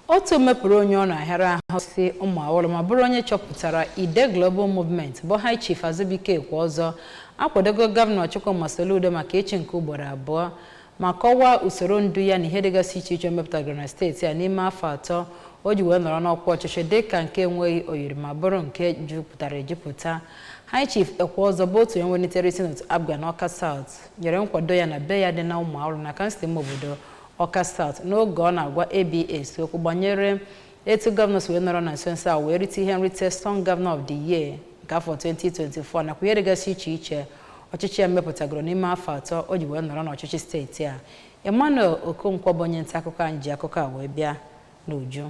otu omepụrụ onye ọ na-ahịara ahụ si ụmụawụlụ ma bụrụ onye chọpụtara ide global movement bụ high chief azụbike ekweọzọ akwadogo gọvanọ chukwuma soludo maka ịchị nke ugboro abụọ ma kọwaa usoro ndu ya na ihe dịgasị iche iche o mepụtara na steeti a n'ime afọ atọ o ji wee nọrọ n'ọkwa ọchịchị dị ka nke enweghị oyiri ma bụrụ nke jupụtara ejupụta high chief ekweọzọ bụ otu onye welitere isi n'otu apga n'ọka south nyere nkwado ya na be ya dị na ụmụawụlụ na kansụl ime obodo Ọka South n'oge ọ na-agwa ABS okwu gbanyere etu gọvanọ si wee nọrọ na nso nso a wee rite ihe nrite Sun Governor of the Year nke afọ 2024 nakwa ihe dịgasị iche iche ọchịchị ya mepụtagoro n'ime afọ atọ o ji wee nọrọ n'ọchịchị steeti a Emmanuel Okonkwo bụ onye nta akụkọ anyị ji akụkọ a wee bịa n'uju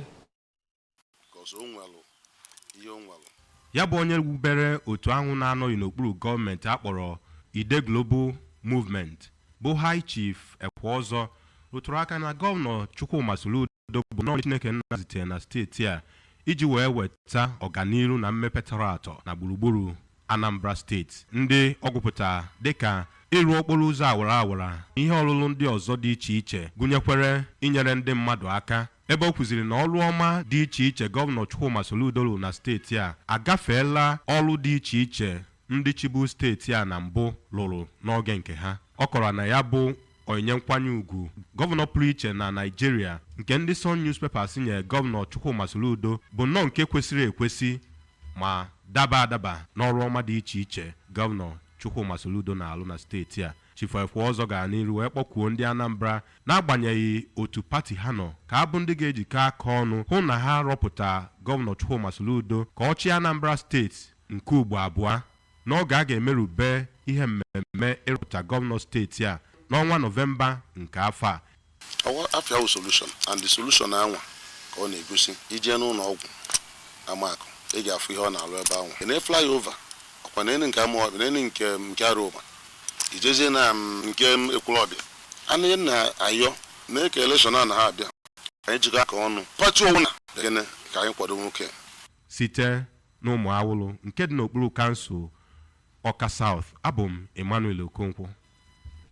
ya bụ onye wubere otu ahụ na-anọghị n'okpuru gọọmenti a kpọrọ Ide Global Movement bụ High Chief Ekweọzọ rụtụrụ aka na gọvanọ Chukwuma Soludo bụ nnọọ onye Chineke nna zitere na steeti a iji wee weta ọganihu na mmepe tọrọ atọ na gburugburu Anambra steeti ndị ọ gụpụta dịka ịrụ okporo ụzọ awara awara ihe ọlụlụ ndị ọzọ dị iche iche gụnyekwere inyere ndị mmadụ aka ebe o kwuziri na ọrụ ọma dị iche iche gọvanọ Chukwuma Soludo lụrụ na steeti a agafeela ọrụ dị iche iche ndị chịbu steeti a na mbụ lụrụ n'oge nke ha ọ kọrọ na ya bụ onyinye nkwanye ugwu gọvanọ pụrụ iche na Naịjirịa nke ndị Sun newspapers nyere gọvanọ Chukwuma Soludo bụ nnọọ nke kwesịrị ekwesị ma daba adaba n'ọrụ ọma dị iche iche gọvanọ Chukwuma Soludo na-alụ na steeti a Chief Ekweọzọ gara n'iru wee kpọkuo ndị Anambra n'agbanyeghị otu pati ha nọ ka ha bụ ndị ga-ejikọ aka ọnụ hụ na ha rọpụta Gọvanọ Chukwuma Soludo ka ọ chịa Anambra steeti nke ugbo abụọ n'oge a ga-emerube ihe mmemme ịrọpụta gọvanọ steeti a n'ọnwa Nọvemba nke afọ a. ọwa afa ya wụ solution and solution anwa ka ọ na-egosi i jee n'ụnọ ọgwụ amakụ ị ga-afụ ihe ọ na-alụ ebe anwa na flyover ọkwa na enu nke ama enu nke nke aroma i jezie na mm, nke ekwulọbịa anyị na-ayọ na nke elekshọn a na-abịa anyị jikọ aka ọnụ pati ọwụna gịnị ka anyị kwado nwoke site n'ụmụawụlụ nke dị n'okpuru kansụl ọka south abụ m emmanuel okonkwo